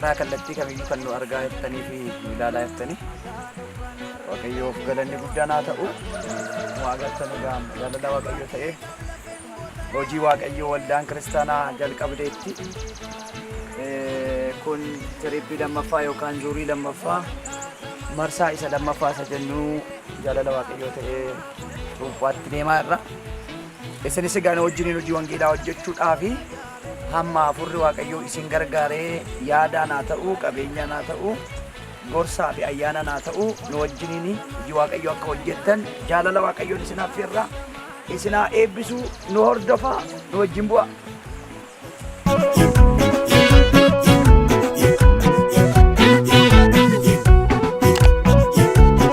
Karaa kallattii kamiyyuu kan nu argaa jirtanii fi nu ilaalaa jirtanii Waaqayyoof galanni guddaan haa ta'u. Nu agartan egaa jaalala Waaqayyoo ta'ee hojii Waaqayyoo waldaan kiristaanaa jalqabdeetti. Eh, Kun tirippii lammaffaa yookaan zuurii lammaffaa marsaa isa lammaffaa isa jennu jaalala Waaqayyoo ta'ee cuuphaatti deemaa irra. Isinis egaa nu wajjiniin hojii wangeelaa hojjechuudhaa fi Hamma hafuurri Waaqayyoo isin gargaaree yaadaan haa ta'uu, qabeenyaan haa ta'uu, gorsaa fi ayyaanaan haa ta'uu nu wajjiniin hojii Waaqayyoo akka hojjettan jaalala Waaqayyoon isin affeerraa isin haa eebbisuu nu hordofaa nu wajjin bu'aa.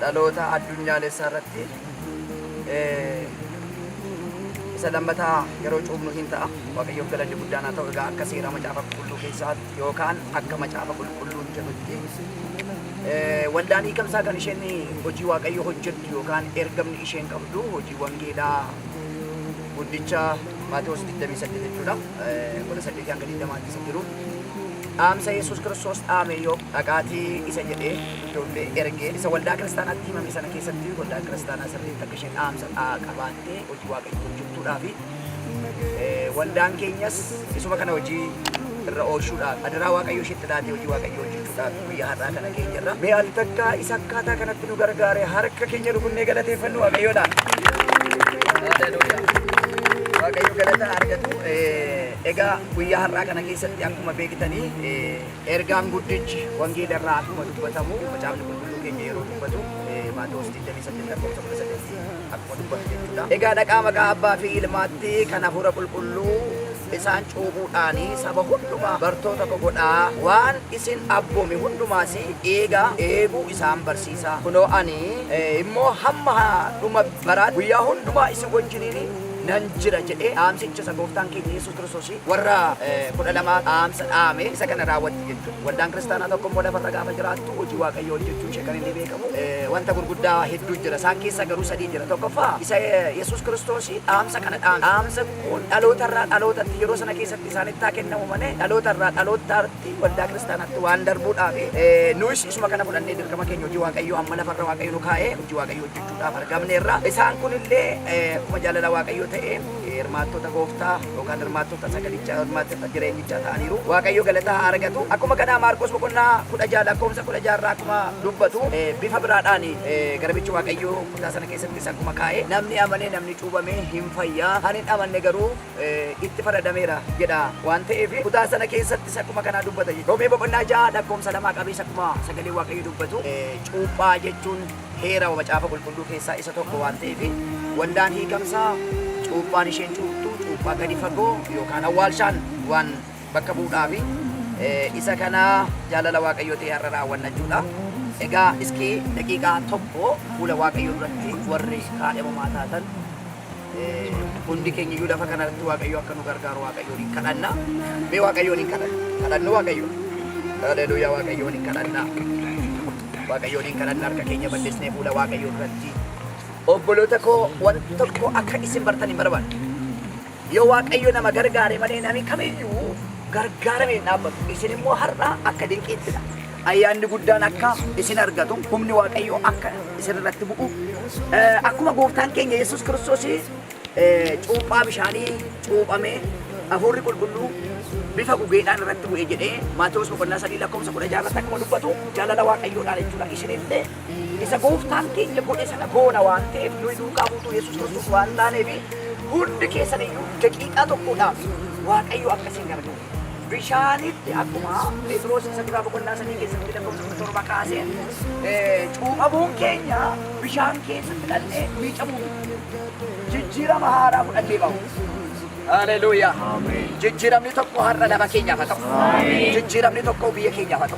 dhaloota addunyaalessaa irratti isa lammataa yeroo cuubnu hin ta'a. Waaqayyoof galanni guddaan haa ta'u egaa akka seera macaafa qulqulluu keessaatti yookaan akka macaafa qulqulluun jedhutti waldaan hiikamsaa kan isheen hojii waaqayyoo hojjettu yookaan ergamni isheen qabdu hojii wangeelaa guddicha Maatewos 28 jechuudha. 18 hanga 20 keessa jiru. dhaamsa Yesuus Kiristoos dhaame yoo dhaqaatii isa jedhee ijoollee ergee isa waldaa kiristaanaatti himame sana keessatti waldaan kiristaanaa sirriitti akka isheen dhaamsa dhaa qabaattee hojii waaqayyoo hojjettuudhaa fi waldaan keenyas isuma kana hojii irra oolchuudhaaf adaraa waaqayyoo isheetti laatee hojii waaqayyoo hojjechuudhaaf guyyaa har'aa kana keenya irra mee al takkaa isa akkaataa kanatti nu gargaare harka keenya rukunnee galateeffannu waaqayyoodhaan. Waaqayyo galata argatu. Egaa guyyaa har'aa kana keessatti akkuma beektanii ergaan guddichi wangeela irraa akkuma dubbatamu macaafni qulqulluu keenya yeroo dubbatu Maatewos 28 lakkoofsa 18 akkuma dubbatu jechuudha. Egaa dhaqaa maqaa abbaa fi ilmaatti kan hafuura qulqulluu isaan cuuphuudhaan saba hundumaa bartoota koo godhaa waan isin abboome hundumaas eegaa eeguu isaan barsiisaa kunoo ani immoo hamma dhuma baraatti guyyaa hundumaa isin wajjiniin nan jira jedhee dhaamsicha isa gooftaan keenya Yesuus Kiristoos warra 12 dhaamsa dhaame isa kana raawwatti jechuudha. Waldaan kiristaanaa tokko immoo lafarra gaafa jiraattu hojii waaqayyoo hojjechuun ishee kan inni beekamu wanta gurguddaa hedduu jira. Isaan keessaa garuu sadii jira. Tokkoffaa isa Yesuus Kiristoos dhaamsa kana dhaame. Dhaamsa kun dhaloota irraa dhalootatti yeroo sana keessatti isaanitti haa kennamu malee dhaloota irraa dhalootaatti waldaa kiristaanaatti waan darbuudhaaf nuus isuma kana fudhannee dirqama keenya hojii waaqayyoo amma lafarra waaqayyoo nu kaa'ee hojii waaqayyoo hojjechuu dhaaf argamneerra. Isaan kun illee akkuma jaalala Waaqayyoo ta'een hirmaattota gooftaa yookaan hirmaattota sagalichaa hirmaattota jireenyichaa ta'aniiru. Waaqayyo galataa haa argatu. Akkuma kanaa Maarqos boqonnaa kudha ja'a lakkoofsa kudha ja'a irraa akkuma dubbatu bifa biraadhaan garbichi Waaqayyoo kutaa sana keessattis akkuma kaa'e namni amanee namni cuubame hin fayyaa kan hin amanne garuu itti faradameera jedha waan ta'eef kutaa sana keessattis akkuma kanaa dubbata. Roomee boqonnaa ja'a lakkoofsa lamaa qabees akkuma sagalee Waaqayyoo dubbatu cuuphaa jechuun heera Macaafa Qulqulluu keessaa isa tokko waan ta'eef, waldaan hiikamsaa cuuphaan isheen cuuptu cuuphaa gadi fagoo yookaan awwaalshaan waan bakka bu'uudhaaf isa kana jaalala Waaqayyoo ta'e har'a raawwanna jechuudha. Egaa iskii daqiiqaa tokko fuula Waaqayyoo duratti warri kaadhimamaa taatan Hundi keenya iyyuu lafa kana irratti Waaqayyo akka nu gargaaru Waaqayyoon hin kadhanna. Mee Waaqayyoon hin kadhanna. Kadhannu Waaqayyo. Haleluuyaa Waaqayyoon hin kadhanna. Waaqayyoon hin kadhanna harka keenya bal'isnee fuula Waaqayyoo duratti. Obboloota koo waan tokko akka isin bartan hin barbaadu. Yoo Waaqayyo nama gargaare malee nami kamiyyuu gargaaramee hin dhaabbatu. Isin immoo har'a akka dinqiittidha. Ayyaanni guddaan akka isin argatu, humni Waaqayyoo akka isin irratti bu'u, eh, akkuma gooftaan keenya Yesuus Kiristoos eh, cuuphaa bishaanii cuuphamee hafuurri qulqulluu bifa gugeedhaan irratti bu'e jedhee Maatewos boqonnaa sadii lakkoofsa kudha jaha irratti akkuma dubbatu jaalala Waaqayyoodhaan jechuudha. Isinillee isa gooftaan keenya godhe sana goona waan ta'eef nuyi duukaa buutuu Yesuus Kiristoos waan taaneef hundi keessan iyyuu daqiiqaa tokkodhaaf Waaqayyo akka isin gargaaru. bishaanitti akkuma Phexros isa duraa boqonnaa sadii keessatti lakkoofsa kudha torba kaasee eh, cuuphamuun keenya bishaan keessatti dhal'ee miicamuu miti. jijjiirama haaraa fudhannee bahu. Haleluuyaa. Jijjiiramni tokko har'a nama keenyaaf haa ta'u. Jijjiiramni tokko biyya keenyaaf haa ta'u.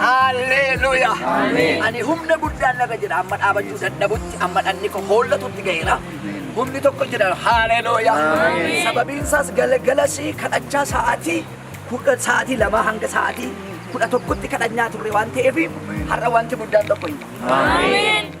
Haalleeluuyaa! Ani humna guddaan narra jira amma dhaabachuu dadhabutti amma dhanni koo hoollatutti ga'eera. Humni tokko jira haalleeluuyaa! Sababiin isaas galgala ishii kadhachaa sa'aatii kudha sa'aatii lamaa hanga sa'aatii kudha tokkotti kadhanyaa turre waan ta'eef har'a wanti guddaan tokko hin jiru.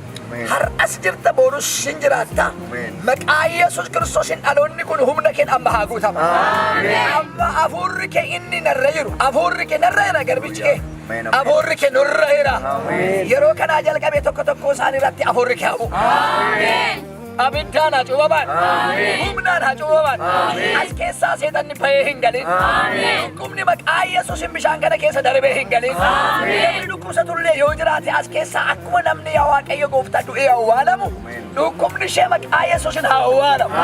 Har'as jirta boorus hin jiraatta. Maqaa Yesuus Kiristoosiin dhaloonni kun humna keen amma haa guutama. Amma hafuurri kee inni narra jiru. Hafuurri kee narra jira garbichi kee. Hafuurri kee nurra jira. Yeroo kanaa jalqabee tokko tokkoo isaanii irratti hafuurri kee haa bu'u. Abiddaan haa cuubaman. Humnaan haa cuubaman. As keessaa seexanni bahee hin galin. Dhukkubni maqaa Yesuusin bishaan kana keessa darbee hin galin. Namni dhukkubsatullee yoo jiraate as keessaa akkuma namni yaa Waaqayyo gooftaa du'ee awwaalamu dhukkubni ishee maqaa Yesuusin haa awwaalamu.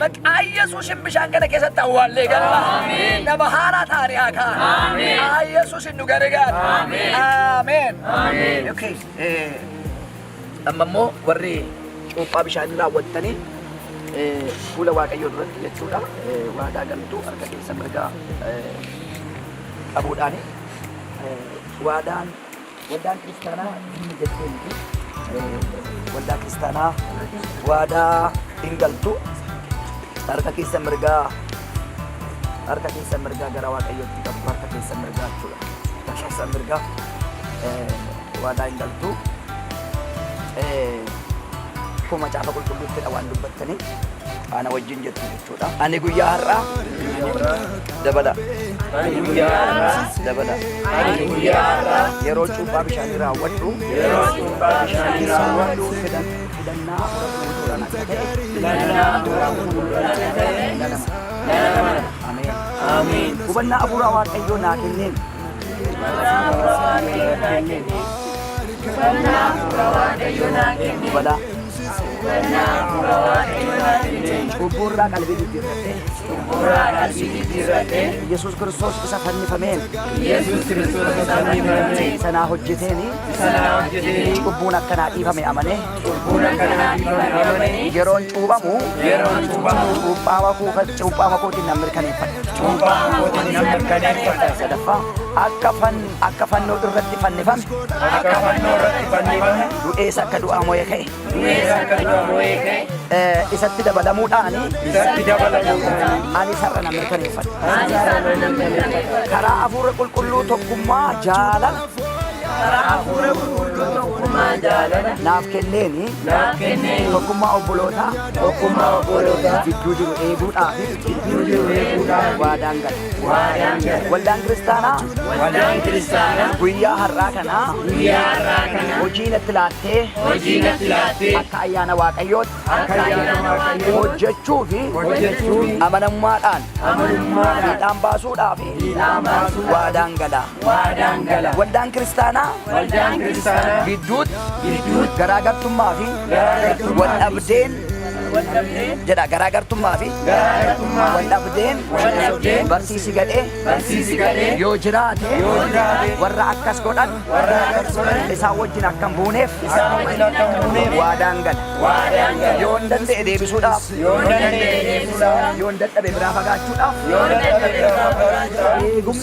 Maqaa Yesuusin bishaan kana keessatti awwaallee galma. Nama haaraa taane haa kaa'an. Maqaa Yesuusin nu gargaara. Ameen. Okay. eh, Amma immoo warri cuuphaa bishaanii raawwattanii eh, fuula Waaqayyoo duratti jechuudha eh, waadaa galtuu harka keessa mirgaa eh, qabuudhaani eh, waadaan waldaan kiristaanaa diinni jettee miti eh, waldaa kiristaanaa waadaa hin galtu harka keessa mirgaa harka keessa mirgaa gara waaqayyootti qabdu harka keessa mirgaa jechuudha harka keessa mirgaa eh, Waadaa hin galtu. Akkuma macaafa qulqulluuttidha waan dubbattanii ana wajjin jettu jechuudha. Ani guyyaa har'aa dabala. Ani guyyaa har'aa dabala. Ani guyyaa har'aa yeroo cuuphaa bishaanii raawwadhu. Yeroo cuuphaa bishaanii raawwadhu. Filannaa hafuura qulqulluudhaan akka ta'e. Filannaa hafuura qulqulluudhaan akka ta'e. Nana mana. Ameen. Ameen. Hubannaa hafuuraa waaqayyoo naa kenneen. Cubbuurraa qalbii jijjiirradhee Yesuus Kiristoos isa fannifameen Yesuus Kiristoos isa fannifameen sanaa hojjeteen sanaa hojjeteen cubbuun akkanaa dhiifame amanee Yeroon cuuphamu cuuphaa makuu kan cuuphaa makuutiin nan mirkaneeffadha. Sadaffaa akka fan akka fannoo irratti fannifame du'ees akka du'aa moo'ee ka'e eh, isatti dabalamuudhaan ani sarara nan mirkaneeffadha. Karaa hafuura qulqulluu tokkummaa jaalala Karaa hafuura qulqulluu tokkummaa jaalala. naaf kenneeni naaf kenneeni. tokkummaa obbolootaa tokkummaa obbolootaa. gidduu jiru eeguudhaaf gidduu jiru eeguudhaaf. waadaan gala. waadaan gala. Waldaan kiristaanaa Waldaan kiristaanaa guyyaa har'aa kanaa guyyaa har'aa kana hojii natti laattee hojii natti laattee akka ayyaana waaqayyootti akka ayyaana waaqayyoo hojjechuu fi hojjechuu fi amanamummaadhaan amanamummaadhaan fiixaan baasuudhaaf fiixaan baasuudhaaf waadaan gala. waadaan gala. Waldaan kiristaanaa Waldaan kiristaanaa gidduutti gidduutti garaagartummaa fi garaagartummaa wal dhabdeen wal dhabdeen jedha garaagartummaa fi garaagartummaa wal dhabdeen wal dhabdeen barsiisi gadhee barsiisi gadhee yoo jiraate yoo jiraate warra akkas godhan warra akkas godhan isaan wajjin akka hin buuneef isaan wajjin akka hin buuneef waadaan gala waadaan gala yoo hin danda'e deebisuudhaaf yoo hin danda'e deebisuudhaaf yoo hin dadhabe biraa fagaachuudhaaf yoo hin dadhabe biraa fagaachuudhaaf eegumsa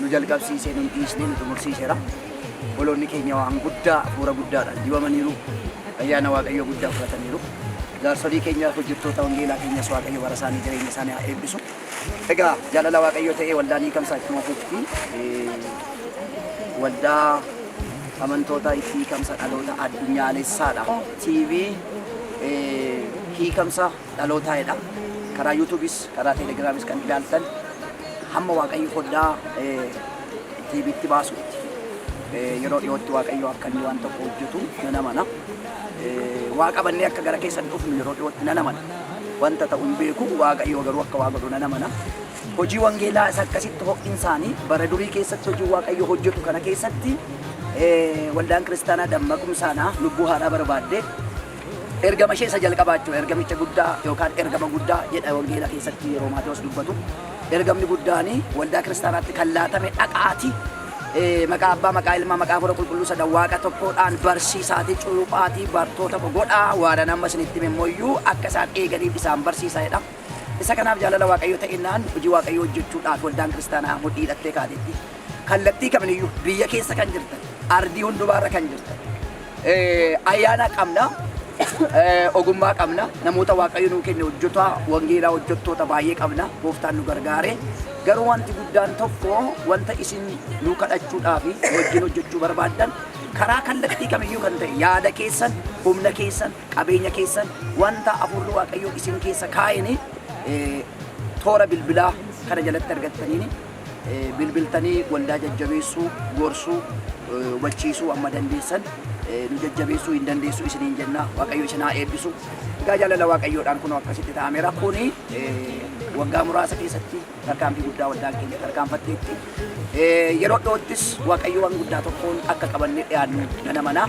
nu jalqabsiisee nun dhiisnee nu xumursiiseera. Obboloonni keenya waan guddaa hafuura guddaadhaan dibamaniiru. Ayyaana Waaqayyoo guddaa fudhataniiru. Jaarsolii keenya hojjettoota wangeelaa keenyas Waaqayyo bara isaanii jireenya isaanii haa eebbisu. Egaa jaalala Waaqayyoo ta'ee waldaan hiikamsaa ittuma fufti. Waldaa amantoota itti hiikamsa dhaloota addunyaalessaadha. TV hiikamsa dhalootaa jedha karaa yuutuubis karaa teelegiraamis kan ilaaltan hamma waaqayyo foddaa tiibiitti baasutti yeroo dhiyootti waaqayyo akka inni waan tokko hojjetu nan amana waa qabannee akka gara keessan dhufnu yeroo dhiyootti nan amana wanta ta'u hin beeku waaqayyo garuu akka waa godhu nan amana hojii wangeelaa isa akkasitti ho'insaanii bara durii keessatti hojii waaqayyo hojjetu kana keessatti waldaan kiristaanaa dammaqumsaanaa lubbuu haadhaa barbaadde Ergama ishee isa jalqabaa jechuudha. Ergamicha guddaa yookaan ergama guddaa jedha wangeela keessatti yeroo Maatewos dubbatu. Ergamni guddaan waldaa kiristaanaatti kan laatame dhaqaati. Eh, Maqaa abbaa, maqaa ilmaa, maqaa hafuura qulqulluu sana waaqa tokkoodhaan barsiisaati, cuuphaati, bartoota koo godhaa waanan amma isinitti hime immoo akka isaan eeganiif isaan barsiisa jedha. Isa kanaaf jaalala waaqayyo ta'inaan hojii waaqayyo hojjechuudhaaf waldaan kiristaanaa mudhii hidhattee kaateetti. Kallattii kaminiyyuu biyya keessa kan jirtan, ardii hundumaarra kan jirtan, Ayyaana qabna, ogummaa qabna, namoota Waaqayyo nuu kenne hojjota wangeelaa hojjottoota baay'ee qabna, gooftaan nu gargaare. Garuu wanti guddaan tokko wanta isin nuu kadhachuudhaa fi wajjin hojjechuu barbaaddan karaa kallattii kamiyyuu kan ta'e yaada keessan, humna keessan, qabeenya keessan wanta hafuurri Waaqayyoo isin keessa kaa'een toora bilbilaa kana jalatti argattaniin bilbiltanii waldaa jajjabeessuu, gorsuu, hubachiisuu amma dandeessan nu jajjabeessuu hin dandeessu isiniin jenna. Waaqayyo isin haa eebbisu. Egaa jaalala Waaqayyoodhaan kunoo akkasitti ta'ameera. Kuni waggaa muraasa keessatti tarkaanfii guddaa waldaan keenya tarkaanfatteetti. Yeroo dhiyoottis Waaqayyo waan guddaa tokkoon akka qabannee dhiyaannu nan amana.